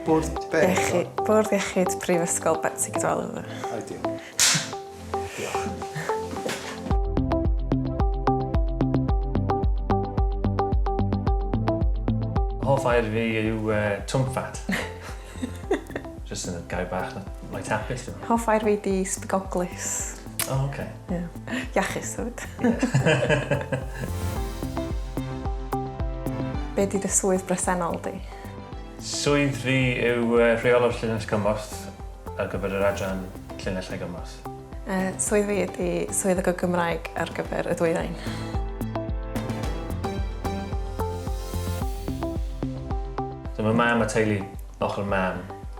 Bwrdd be? Iechi- Bwrdd Iechyd Prifysgol Betsi Cadwaladr. O diolch. Diolch. Hoff air fi yw uh, twmffat. Just yn y gair bach na. Mae tapus. Hoff air fi di sbigoglus. O, oh, oce. Okay. Yeah. Iachus, hefyd. Be di dy swydd bresennol di? Swydd fi yw uh, rheolwr llinell gymorth ar gyfer yr adran llinell a gymorth. Uh, swydd fi ydy swydd y Gymraeg ar gyfer y dwyrain. Dyma mam a teulu ochr mam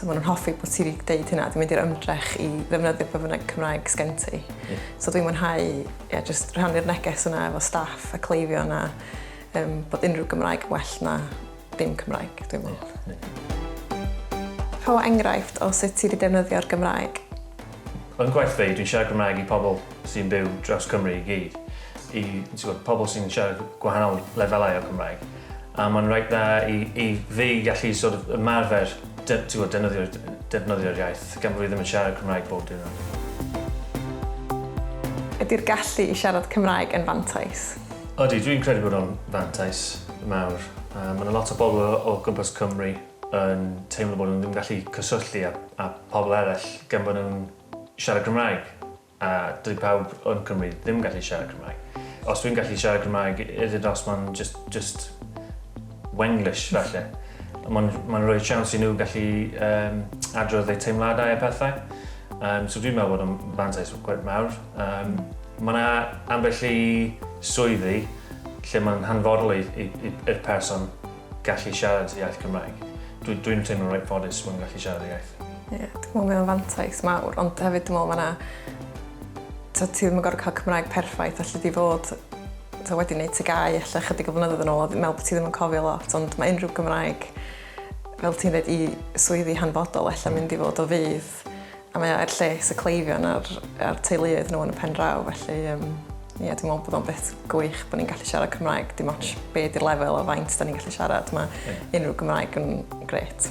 So maen nhw'n hoffi bod ti wedi dweud hynna, dwi'n mynd i'r ymdrech i ddefnyddio pe bynnag Cymraeg sgen ti. Yeah. So dwi'n mwynhau yeah, just rhannu'r neges yna efo staff a cleifio yna um, bod unrhyw Gymraeg well na dim Cymraeg, dwi'n meddwl. Yeah. Yeah. Rho enghraifft o sut ti wedi defnyddio'r Gymraeg. Yn gwaith fi, dwi'n siarad Gymraeg i pobl sy'n byw dros Cymru i gyd. I pobl sy'n siarad gwahanol lefelau o Gymraeg. A mae'n reit dda i i fi gallu sort of ymarfer de- t'mod defnyddio'r defnyddio'r iaith gan bo' fi ddim yn siarad Cymraeg bob diwrnod. Ydi'r gallu i siarad Cymraeg yn fantais? Odi, dwi'n credu bod o'n fantais mawr. Yy ma' 'na lot o bobl o o gwmpas Cymru yn teimlo bod nhw ddim yn gallu cyswllu â â pobl eraill gan bo' nhw'n siarad Cymraeg. A dyw pawb yn Cymru ddim gallu siarad Cymraeg. Os dwi'n gallu siarad Cymraeg, is it os mae'n just, just Wenglish falle. Mae'n ma rhoi siawns i nhw gallu um, adrodd eu teimladau a pethau. Um, so dwi'n meddwl bod o'n fantais gwaith mawr. Um, mae yna ambell i swyddi lle mae'n hanfodol i'r person gallu siarad iaith Cymraeg. Dwi dwi'n teimlo reit ffodus fod yn gallu siarad iaith. Ie, yeah, dwi'n meddwl mae o'n fantais mawr, ond hefyd dwi'n meddwl mae yna... So, ti ddim yn gorfod cael Cymraeg perffaith, allu di fod so, wedi gwneud tygau allu chydig o flynyddoedd yn ôl, dwi'n meddwl bod ti ddim yn cofio lot, ond mae unrhyw Gymraeg, fel ti'n dweud, i swyddi hanfodol allu mynd i fod o fydd A mae o er lles y cleifion a'r, a'r teuluoedd nhw yn y pen draw, felly um, ie, yeah, dwi'n meddwl bod o'n beth gwych bod ni'n gallu siarad Cymraeg, dim ond be di'r lefel o faint da ni'n gallu siarad, mae yeah. unrhyw Gymraeg yn gret.